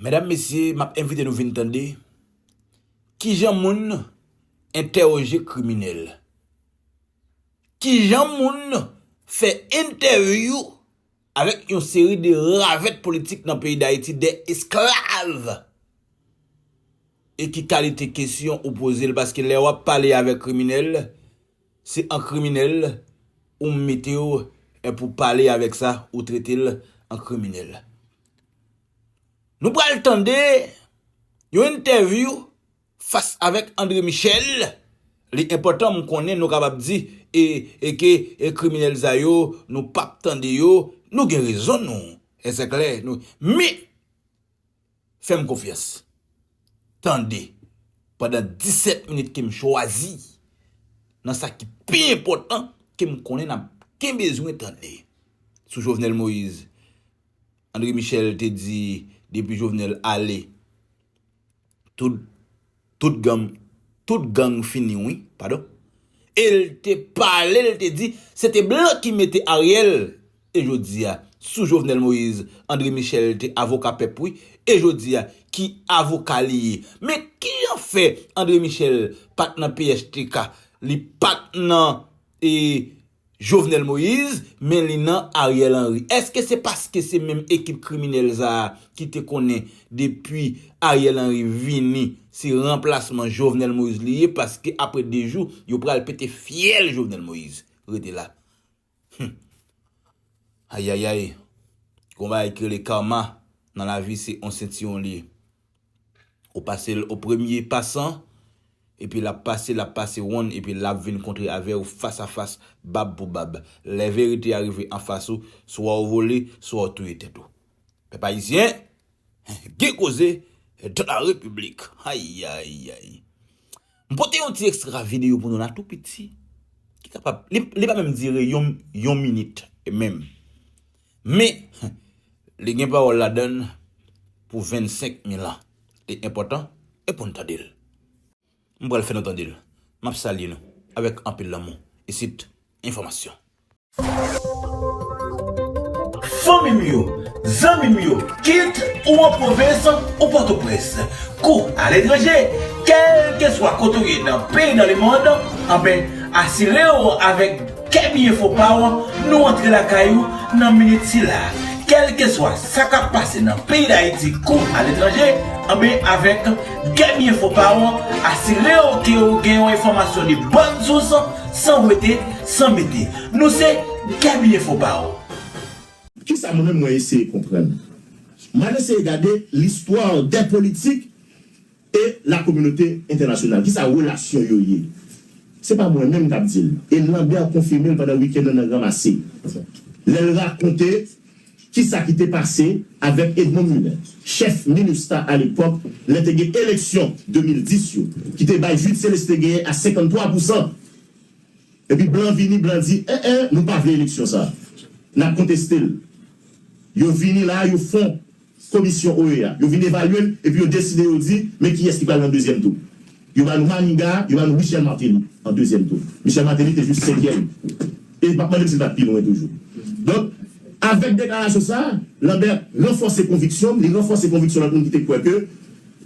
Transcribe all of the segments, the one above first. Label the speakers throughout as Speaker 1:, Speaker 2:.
Speaker 1: Medam mesye map envite nou vin tande kijan moun entèoje kriminèl. Kijan moun fè entèvyou avèk yon seri de ravèt politik nan peyi dayiti de esklav. E ki kalite kesyon ou poze l paske lè wap pale avèk kriminèl. Se an kriminel ou m metew e pou pale avek sa ou tretel an kriminel. Nou pral tande yon entèvyou fas avek Andre Michel, li enpotan m konnen nou kapab di e ke kriminel sa yo nou pap tande yo, nou gen rezon nou, e se klè nou, men. Fè m konfyans. Tande, pandan disèt minit ke m chwazi, nan sa ki pi enpòtan ke m konnen n ap gen bezwen tande. Sou Jovenel Moïse, André Michel te di depi Jovenel ale, tout. Tout gang tout gang fini wi pardon. El te pale el te di se te blan ki mete Ariel e jodia sou Jovenel Moïse André Michel te avoka pèp wi e jodia ki avoka li ye men kijan fè André Michel pat nan phtk li pat nan e Jovenel Moise, men li nan Ariel Henry. Eske se paske se menm ekip kriminèl sa a ki te konnen depi Ariel Henry vini se ranplasman Jovenel Moise li ye paske apre 2 jou yo pral pete fyèl Jovenel Moise. Rete la. Hum. Ayayay. Gon bagay ki rele karma nan lavi se on sentiwon li ye. Ou pase l o premye pasan, epi l ap pase, l ap pase wonn, epi l ap vin kontre avè ou fas a fas, bab pou bab. Lè verite a rive anfas ou, swa ou vole, swa ou touye tèt ou. Pèp Ayisyen, gen koze dans la Repiblik! Ayayayy! M pote yon ti ekstra videyo pou nou la tou piti, ki kapab, li pa menm dire yon minit menm. Men, li gen pawòl ladan l pou vennsenk mil an. Li enpòtan e pou n tande l. M pral fè nou tande l. M ap salye nou avèk anpil lanmou isit Enfòmasyon. Fanmi m yo, zanmi m yo, kit ou an pwovens ou Pòtoprens, kou aletranje, kèlkeswa kote ou ye nan peyi nan lemonn, anben asire w avèk. Kè byen fò pa w, nou antre lakay ou nan minit sila a. Kèlkeswa sa k ap pase nan peyi Dayiti kou aletranje, anben avèk Kè byen fò pa w, asire w ke w gen yon enfòmasyon de bòn sous, san wete, san mete. Nou se Kè byen fò pa w. Kisa
Speaker 2: mwen menm mwen eseye konprann? M al eseye gade listwa dè politik E lakominote entènasyonal? Ki sa relasyon yo ye? Se pa mwen menm k ap di l. E Lambert konfime l pandan wikenn nan nan Granmasi lè l rakonte ki sa ki te pase avèk Edmond Muller, chèf Minustah alepòk lè te gen eleksyon 2010 yo ki te bay Jude Celestin genyen a 53 pousan. Epi blan vini, blan di, en en, nou pa vle eleksyon sa a. N ap konteste l. Yo vini la a, yo fon. Komisyon OEA. Yo vin evalye l epi yo deside yo di men kiyès ki pral nan dezyèm tou. Yo ba nou Maniga, yo ba nou Michel Martelly an dezyèm tou. Michel Martelly te jis senkyèm. E m ap mande m si l pa t pi lwen toujou. Donk, avèk deklarasyon sa a, Lambert ranfòse konviksyon m, li ranfòse konviksyon lòt moun ki te kwè ke,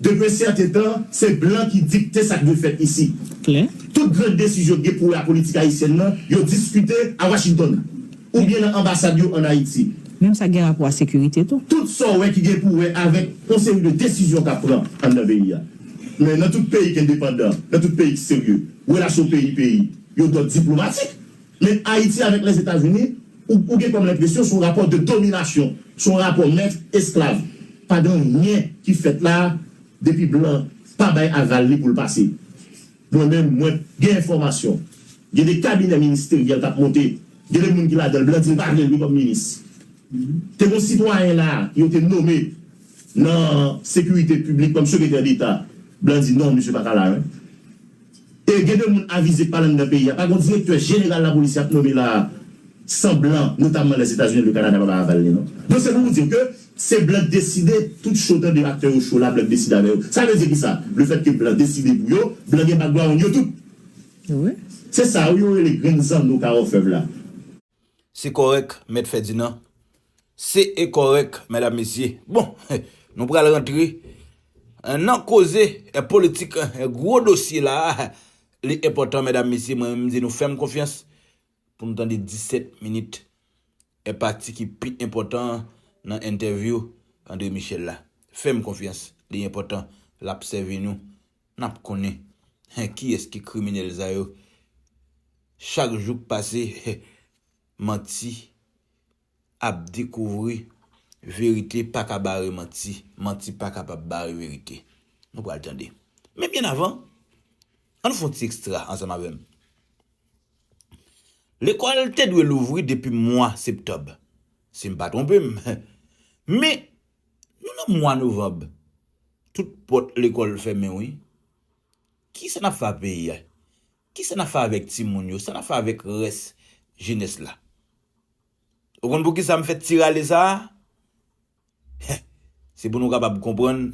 Speaker 2: Depi un certain tan, se blan ki dikte sa k dwe fèt isi. Tout gran desizyon ki gen pou wè a politik ayisyèn nan, yo diskite a Washington, oubyen nan anbasad yo an Ayiti. Menm sa k gen rapò a
Speaker 3: sekirite tou. Tout sa w wè ki gen pou
Speaker 2: wè avèk yon seri de desizyon k ap pran anndan peyi a. Men nan tout peyi k endepandan, nan tout peyi k serye, relasyon peyi-peyi, yo dòd diplomatik. Men Ayiti avèk Lèzetazini, ou ou gen kòm lenpresyon se yon rapò de dominasyon, se yon rapò mèt, esklav. Pa gen anyen ki fèt la a depi blan pa bay aval li pou l pase. Mwen menm, mwen gen enfòmasyon, gen de kabinè ministeryèl k ap monte, gen de moun ki ladan l blan di l pa vle l wi kòm minis. Te gen yon sitwayen la a yo te nome nan sekirite piblik kòm sekretè deta, blan di non misye pa ka la. E gen de moun avize pale anndan peyi a. Pa gon direktè jeneral lapolis y ap nome la a san blan, notamman Lèzetazini ak Lekanada pa bay aval li non. Donk se pou nou di w ke se blan k deside tout cho tande aktè yo cho la blan k deside avè yo. Sa vle di ki sa? Lefèt ke blan deside pou yo, blan gen background yo tout. Se sa yo rele grenn zanno ka òfèv la.
Speaker 1: Se kòrèk mèt Fèdinan. Se e kòrèk mèdam mesye. Bon, nou pral rantre nan koze politik gwo dosye la a. Li enpòtan mèdam mesye mwen menm m di nou fè m konfyans pou nou tande 17 minit e pati ki pi enpòtan an nan entèvyou André Michel la. Fè m konfyans li enpòtan l ap sèvi nou Nap konnen hein kiyes ki kriminel sa yo chak jou k pase hein manti ap dekouvri verite paka bare manti manti pa kapab bare verite nou pral tande men byen avan an nou fon ti extra ansanm avèm lekòl te dwe louvri depi mwa septob sim pa twonpem men Nou nan mwa novanb tout pòt lekòl fèmen wi kisa nap fè ak peyi a kisa nap fè avèk timoun yo sa nap fè avèk rès jenès la ou konn poukisa m fè ti rale sa heh se pou nou kapab konprann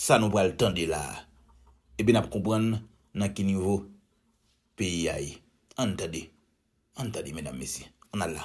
Speaker 1: sa nou pral tande la epi nap konprann nan ki nivo peyi a ye ann tande ann tande medam mesye ann al la.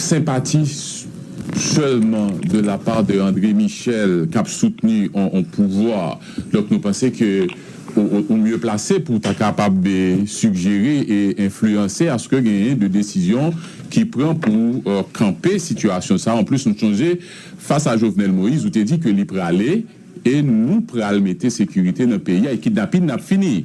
Speaker 4: senpati sèlman de la part de André Michel kap soutni on pouvwa donk nou panse ke ou mye plase pou ta kapab sigjere e enfliyanse aske genyen de desizyon ki pran pou kanpe sitiyasyon sa anplis nou sonje fas a Jovenel Moïse ou te di ke li prale e nou pral mete sekirite nan peyi a e kidnapin ap fini.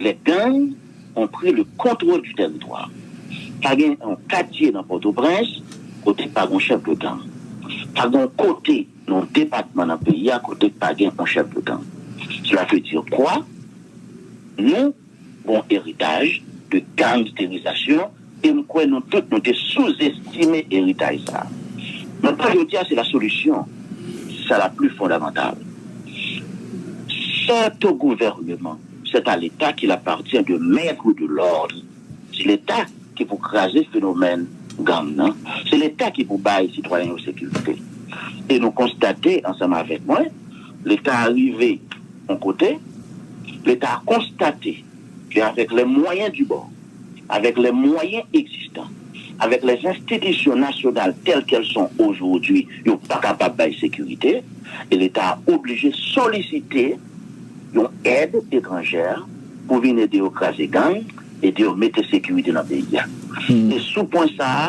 Speaker 5: Les gangs ont pris le contrôle du territoire. Pa gen yon katye nan Pòtoprens kote k pa gen yon chèf de gang. Pa gen yon kote nan yon depatman nan peyi a kote k pa gen yon chèf de gang. Cela veut dire quoi? Nou gen yon eritaj de gangsterisation. E m kwè nou tout nou te souzestime eritay sa a. Mwen kwè jodi a se la solisyon ki sa la pli fondamantal. Sèt o gouvèneman, sèt a leta kil appartient de mettre ou de l'ordre. Se leta ki pou kraze fenomèn gang nan. Se leta ki pou bay sitwayen yo sekirite. E nou konstate ansanm avèk mwen, leta a rive yon kote, leta a konstate. ke avèk lè mwayen di bò, avèk lè mwayen egzistan, avèk lè zenstitisyon nasyonal tèl kèl son ojodi yo pa kapab bay sekirite e leta a oblije solisite yon èd etranjè pou vin ede yo kraze gang, ede yo mete sekirite nan peyi a. E sou pwen sa a.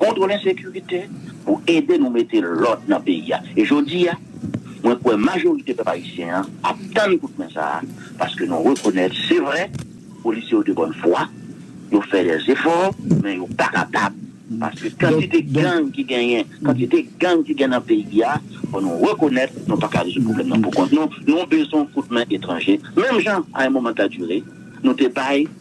Speaker 5: Kontwòl ensekirite pou ede nou mete lòd nan peyi a. E jodi a, mwen kwè majorite pèp ayisyen an ap tann kout men sa a paske nou rekonèt se vre polisye yo de bòn fwa, yo fè dè zefò men yo pa kapab paske kantite gang ki genyen, kantite gang ki gen nan peyi a, fò nou rekonèt nou pa ka rezoud pwoblèm nan pou kont nou, nou bezwen kout men etranje menm jan a yon moman ta dire nou te bay.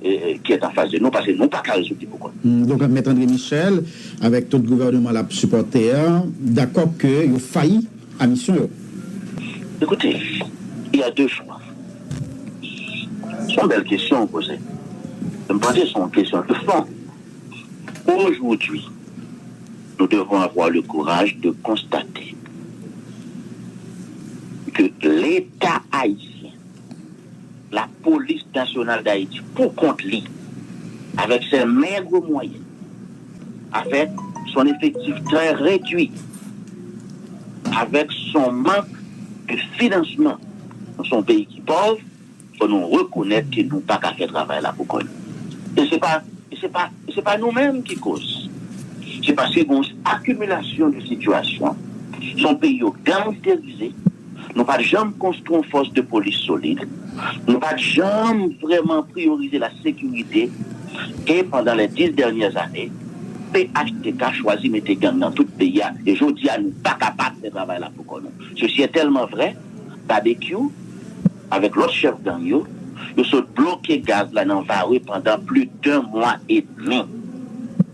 Speaker 5: ki est en face de nou paske nou paka rezoud li poukont nou. Donk mèt Andre
Speaker 6: Michel avèk tout gouvèneman lap sipòte a dakò ke yo fayi a misyon yo? Ekoute,
Speaker 5: il ya de chwa. Se yon bèl kesyon ou poze. E m panse se yon kesyon de fon. Ojoudwi, nou devon avwa le kouraj de konstate ke leta ayisyen, Lapolis Nasyonal Dayiti, pou kont li, avèk sè mègre mwayen, avèk son efektif trè redui, avèk son mank de finansman, nou son peyi ki pòv, fò nou rekonèt ke nou pa ka fè travay la pou kont nou. E se pa, e se pa, e se pa nou menm ki koz. Se paske gen yon akimilasyon de sitiyasyon. Son peyi yo gangsterize. Nou pa t janm konstwi yon fòs de polis solid. Nou pa t janm vrèman priyorize lasekirite. E pandan lè 10 dènyè zane, phtk chwazi mete gang nan tout peyi a. E jodi a, nou pa kapab fè travay la pou kò nou. Sesi e tèlman vrè, Babekyou avèk lòt chèf gang yo, yo sot bloke gaz la nan Varreux pandan pli den mwa edmi.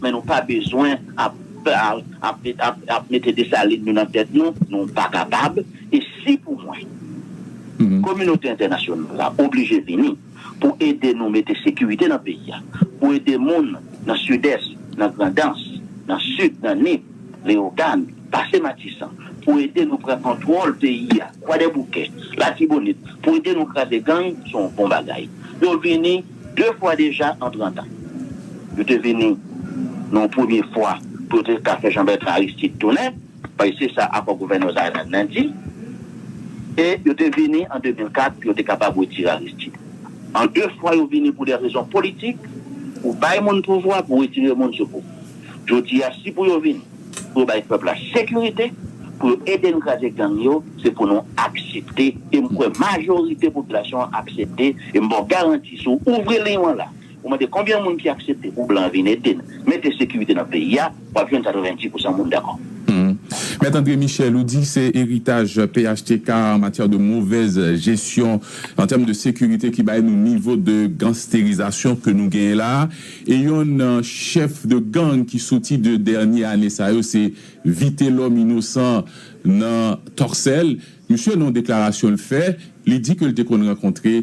Speaker 5: Men nou pa bezwen ap ap mete Dessalines nou nan tèt nou, nou pa kapab e si pou mwen kominote entènasyonal la oblije vini pou ede nou mete sekirite nan peyi a, pou ede moun nan Sidès, nan Grandans, nan Sid, nan Nip, Leyogàn, pase Matisan, pou ede nou pran kontwòl peyi a, Kwadèboukè, Latibonit, pou ede nou kraze gang, se yon bon bagay. Yo vini. De fwa deja an trant an. Yo te vini nan yon premye fwa pou yo te ka fè Jean-Bertrand Aristide tounen, paske se sa akò gouvènman Zaïre nan di, e yo te vini an 2004 pou yo te kapab retire Aristide. An de fwa yo vini pou de rezon politik, pou bay moun pouvwa, pou retire moun sou pouvwa. Jodi a, si pou yo vini. Pou yo bay pèp la sekirite, pou yo ede n kraze gang yo, se pou nou aksepte, e m kwè majorite popilasyon an aksepte, e m ba w garanti si w ouvri liy w an la, ou mande konbyen moun ki aksepte pou blan vin ede n mete sekirite nan peyi a, w ap jwenn 90 pousan moun dakò. Mèt
Speaker 4: André Michel, ou di se eritaj phtk an matyè de movèz jesyon an tèm de sekirite ki bay nou nivo de gansterizasyon ke nou genyen la a, E yonn nan chèf de gang ki soti 2 dènye ane sa yo se Vitelòm Inosan nan Tòksèl. Misye nan yon deklarasyon l fè, li di ke l te konn rankontre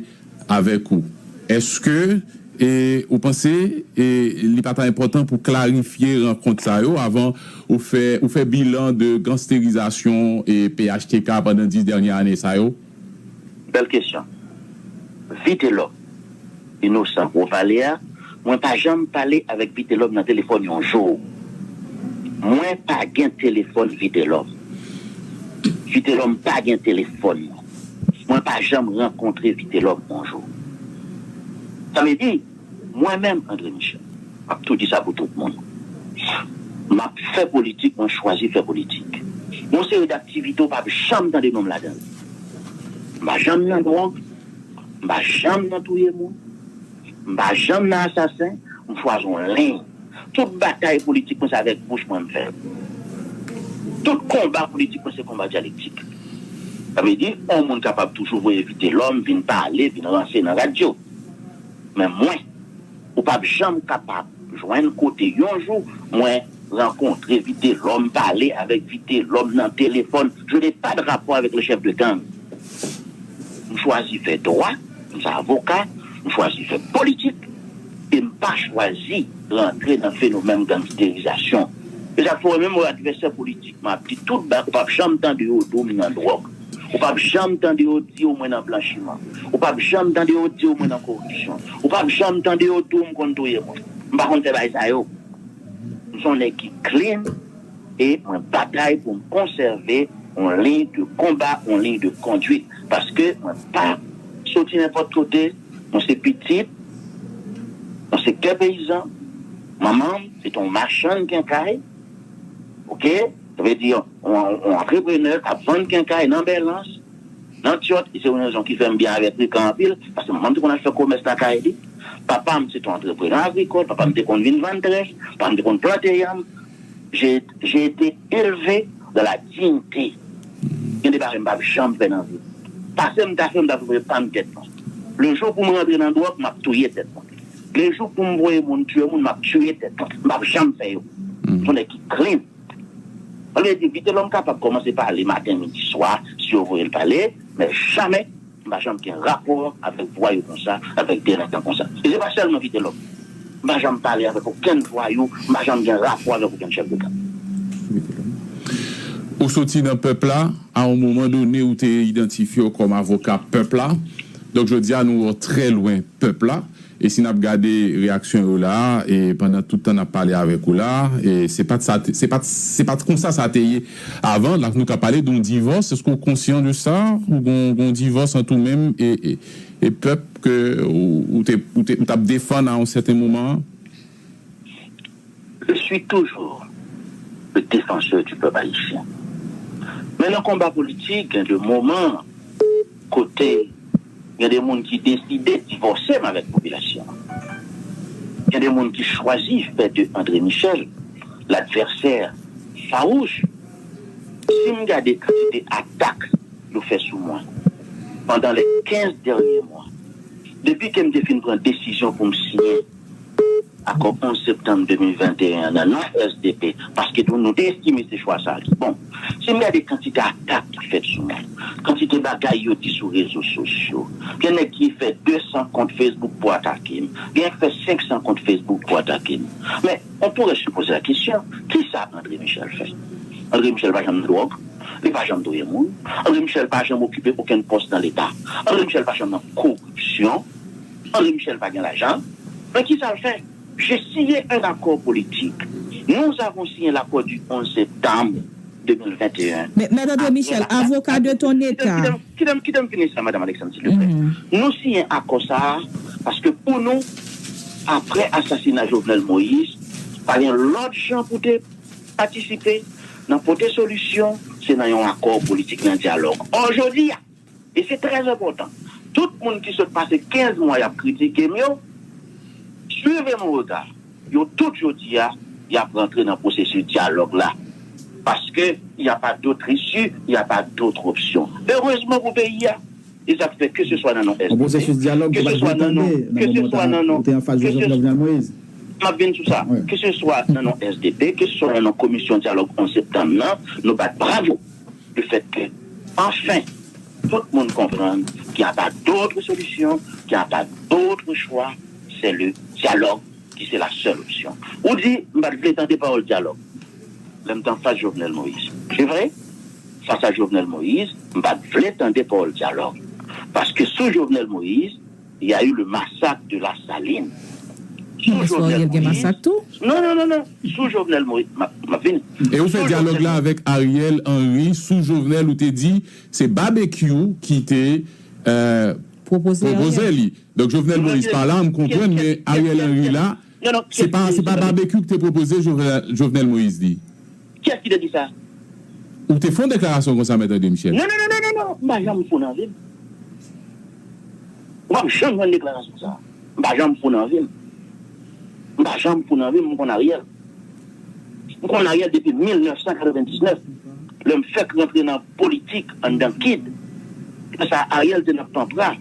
Speaker 4: avèk ou. Eske e ou panse e li pa ta enpòtan pou klarifye rankont sa yo avan ou fè ou fè bilan de gansterizasyon e phtk pandan 10 dènye ane sa yo? Bèl
Speaker 5: kesyon. Vitelòm, Inosan ou pale a, mwen pa janm pale avèk Vitelòm nan telefòn yon jou. Mwen pa gen telefòn Vitelòm. Vitelòm pa gen telefòn mwen. Mwen pa janm rankontre Vitelòm yon jou. Sa vle di. Mwen menm, André Michel, m ap tou di sa pou tout moun, m ap fè politik, mwen chwazi fè politik. Yon seri daktivite w p ap janm tande non m ladan l. M pa janm nan dwòg, m pa janm nan touye moun, m pa janm nan asasen, m chwazi yon liy. Tout batay politik mwen se avèk bouch mwen m fè l. Tout konba politik mwen se konba dyalektik. Sa vle di yon moun kapab toujou voye Vitelòm vin pale, vin ranse nan radyo. Men mwen. Ou pap janm kapab jwenn kote yon jou mwen rankontre Vitelòm, pale avèk Vitelòm nan telefòn. Je n'ai pas de rapport avec le chef de gang. M chwazi fè dwa, m se avoka, m chwazi fè politik e m pa chwazi rantre nan fenomèm gangsterizasyon. E sa k fè w wè menm advèsè politik m ap di tout ba ou pap janm tande yo di w m nan dwòg. Ou pap janm tande yo di yo mwen nan blanchiman. Ou pap janm tande yo di yo mwen nan koripsyon. Ou pap janm tande yo di w m konn touye moun. M pa konn fè bagay sa yo. M son nèg ki clean e mwen batay pou m konsève yon liy de konba, yon liy de konduit. Paske mwen pa soti nenpòt kote. Mwen se pitit yon sektè peyizan. Manman m se te yon machann kenkay. Ok. Vle di yon antreprenè k ap vann kenkay nan Bèlans, nan Tyòt, se yon rezon ki fè m byen avè Trikan anpil, paske manman m te konn al fè komès lakay li. Papa m se te yon antreprenè agrikòl, papa m te konn vin vann trèf, papa m te konn plante yanm. J'ai été élevé dans la dignité. Gen de bagay m pap janm fè nan vi m. Pase m ta fè, m ta pran pa m tèt mwen. Le jou pou m rantre nan dwòg, m ap touye tèt mwen. Le jou pou m voye moun tiye moun, m ap tiye tèt mwen. M pap janm fè yo. M s on nèg ki clean. An vérité Vitelòm kapab kòmanse pale maten midi swa si yo voyel pale men jamè m pa janm gen rapò avèk vwayou konsa avèk delenkan konsa e se pa sèlman Vitelòm m pa janm pale avèk okenn vwayou m pa janm gen rapò avèk okenn chèf de gang.
Speaker 4: Ou soti nan pèp la, a yon moman done ou te idantifye w kòm avoka pèp la, donk jodi a nou wè w trè lwen pèp la. E si n ap gade reyaksyon yo la a, e pandan tout tan n ap pale avèk ou la a, e se pa t sa, se pa t, se pa t konsa sa te ye avan. La nou ka pale de yon divòs, èske ou konsyan de sa? Ou gen yon, gen yon divòs ant ou menm e, e, e pèp ke ou, ou te, ou te, ou t ap defann a yon sèten moman an?
Speaker 5: Je suis toujours le défenseur du peuple haïtien. Men nan konba politik gen de moman kote gen de moun ki deside divòse m avèk popilasyon an. Gen de moun ki chwazi fè de André Michel ladvèsè fawouch. Si m gade kantite atak yo fè sou mwen pandan les 15 dènye mwa depi ke m te fin pran desizyon pou m siyen Akò 11 septanm 2021 an nan non SDP, paske tou nou te estime se chwa sa a ki bon. Si n gade kantite atak ki fèt sou mwen, kantite bagay yo di sou rezo sosyo, gen nèg ki fè 200 kont Facebook pou atake m, gen yon ki fè 500 kont Facebook pou atake m. Men, on pourrait se poser la question, ki sa André Michel fè? André Michel pa janm nan dwòg, li pa janm touye moun, André Michel pa janm okipe okenn pòs nan Leta, André Michel pa janm nan koripsyon. André Michel pa gen lajan, men ki sa l fè? Je siye un accord politique. Nous avons signé l'accord du 11 septembre 2021. Men, Mèt André
Speaker 3: Michel, avoka de ton État. Kite m, kite m fini
Speaker 5: sa, Madam Alexandre, silvouplè. Nou siyen akò sa a paske pou nou, apre asasina Jovenel Moïse, pa gen lòt jan pou te patisipe nan pote solisyon, se nan yon akò politik, nan dyalòg. Ò, jodi a. E se trè enpòtan. Tout moun ki sot pase 15 mwa yap kritike m yo, suivez mon regard, yo tout jodi a yap rantre nan pwosesis dyalòg la paske y a pas d'autre issue, y a pas d'autre option. Erezman pou peyi a. E sa k fè keseswa nan non SPP, keseswa nan non,
Speaker 6: keseswa nan non,
Speaker 5: keseswa nan non, ke se swa nan non, keseswa nan non SDP, keseswa nan non komisyon dyalòg 11 septanm nan, nou bat bravo. Le fait que, enfin, tout moun konprann qu'il y a pas d'autre solution, qu'il y a pas d'autre choix, c'est le dialogue qui c'est la seule option. Ou di, m pa t vle tande pawòl dialogue lè m t anfas Jovenel Moïse. Se vre, fas a Jovenel Moïse, m pa t vle tande pawòl dialogue. Paske sou Jovenel Moïse. Y a eu le massacre de la saline sou jovenel moïse map vini. E ou
Speaker 4: fè dyalòg la avèk Ariel Henry sou Jovenel ou te di se Babekyou ki te pwopoze li donk Jovenel Moïse pa la m konprann men Ariel Henry la. Non non Se pa se pa barbecue ki te pwopoze Jovenel Moïse li. Kiyès ki te di
Speaker 5: sa? Ou te
Speaker 4: fon deklarasyon konsa mèt André Michel. Non non non non non m pa
Speaker 5: janm fou nan vi m. Ou pap janm jwenn deklarasyon sa. M pa janm fou nan vi m. M pa janm fou nan vi m, m konn Ariel. M konn Ariel depi 1999 lè m fèk rantre nan politik anndan kid. Lè sa Ariel te nan Panpra.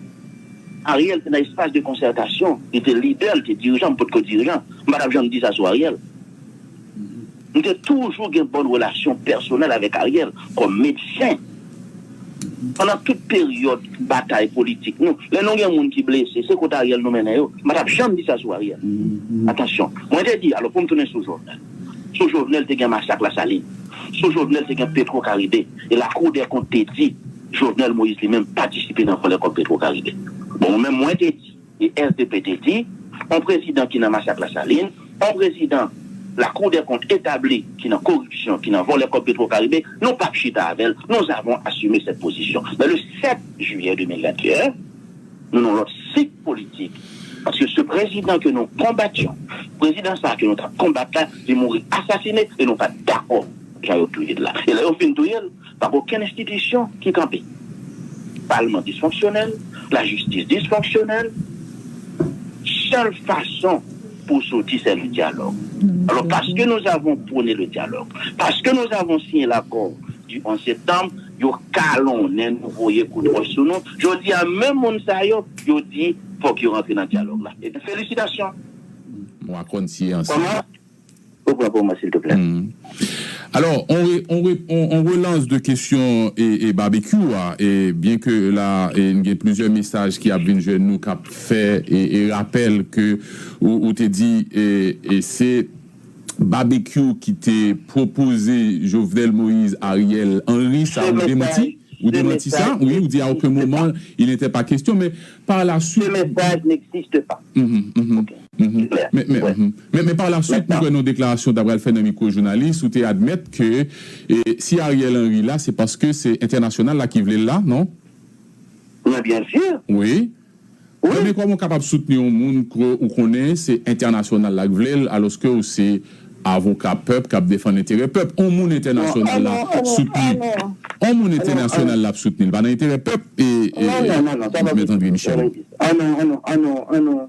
Speaker 5: Ariel te nan espas de konsètasyon, li te lidè, li te dirijan, m pot ko dirijan, m pa tap janm di sa sou Ariel. M te toujou gen bòn relasyon pèsonèl avèk Ariel kòm medsen. Pandan tout peryòd batay politik nou, lè nou gen moun ki blese, se kot Ariel nou mennen yo, m pa tap janm di sa sou Ariel. Atansyon, mwen te di, alò pou m tounen sou Jovenel. Sou Jovenel te gen masak Lasalin, sou Jovenel te gen Petro Karibe, e Lakou dè Kont te di, Jovenel Moïse li menm patisipe nan vòlè kòb Petro Caribe. Bon mwen menm mwen te di e sdp te di on prezidan ki nan masak Lasalin, on prezidan la cour des comptes etabli ki nan koripsyon, ki nan vòlè kòb Petro Caribe, nou pap chita avè l, nous avons assumé cette position. Men le 7 juillet 2021, nou nan lòt sik politik paske ce prezidan ke nou konbatyon, prezidan sa ke nou tap konbat la li mouri asasine e nou pat dakò jan yo touye l la. E lè yo fin touye l, Pap okenn enstitisyon ki kanpe. Palman disfonksyonèl, lajistis disfonksyonèl, sèl fason pou w soti sè le dyalòg. Alò paske nou avon pwone le dyalòg, paske nou avon siyen lakò di 11 septanm, yo kalonnen nou, voye kout wòch sou nou. Jodi a menm moun sa yo, yo di fòk yo rantre nan dyalòg la. Ebyen felisitasyon. Mwa
Speaker 4: konn si e ansanm. Repran
Speaker 5: pou mwen silteplè. Alò,
Speaker 4: on relans de kesyon Babekyou a, byen ke la n gen plizyè mesaj ki ap vin jwenn nou k ap fè rapèl ke ou te di se Babekyou ki te pwopoze Jovenel Moïse, Ariel Henry, sa ou demanti? Ou demanti sa? Wi, ou di a oken moman il n'était pas question, men par la suite. Se mesaj n'existe
Speaker 5: pas. Li
Speaker 4: klè. Men pa la swit mwen kwè nan yon deklarasyon w ta pral fè nan mikwo jounalis ou te admèt ke si Ariel Henry la se paske se entènasyonal la ki vle l la non? Men
Speaker 5: byen si. Wi.
Speaker 4: Wi. Men kòman w kapab soutni yon moun ke w konnen se entènasyonal la k vle l alòske w se avoka pèp k ap defann enterè pèp? On moun entènasyonal la soutni on moun entènasyonal la ap soutni l pa nan enterè pèp? Non non non non sa pa posib. An nou an
Speaker 5: nou an nou an nou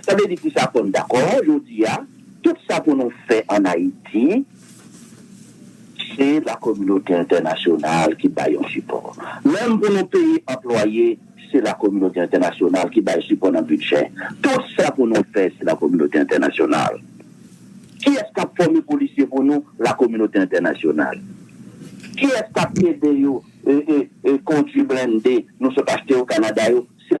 Speaker 5: Sa vle di kisa fò n dakò jodi a tout sa pou nou fè an Ayiti se la kominote entènasyonal ki bay yon sipò. Menm pou nou peye anplwaye se la kominote entènasyonal ki bay sipò nan bidjè. Tout sa pou nou fè se la kominote entènasyonal. Kiyès k ap fòme polisye pou nou? La kominote entènasyonal. Kiyès k ap ede yo kondui blende nou sot achte yo Kanada yo? Se.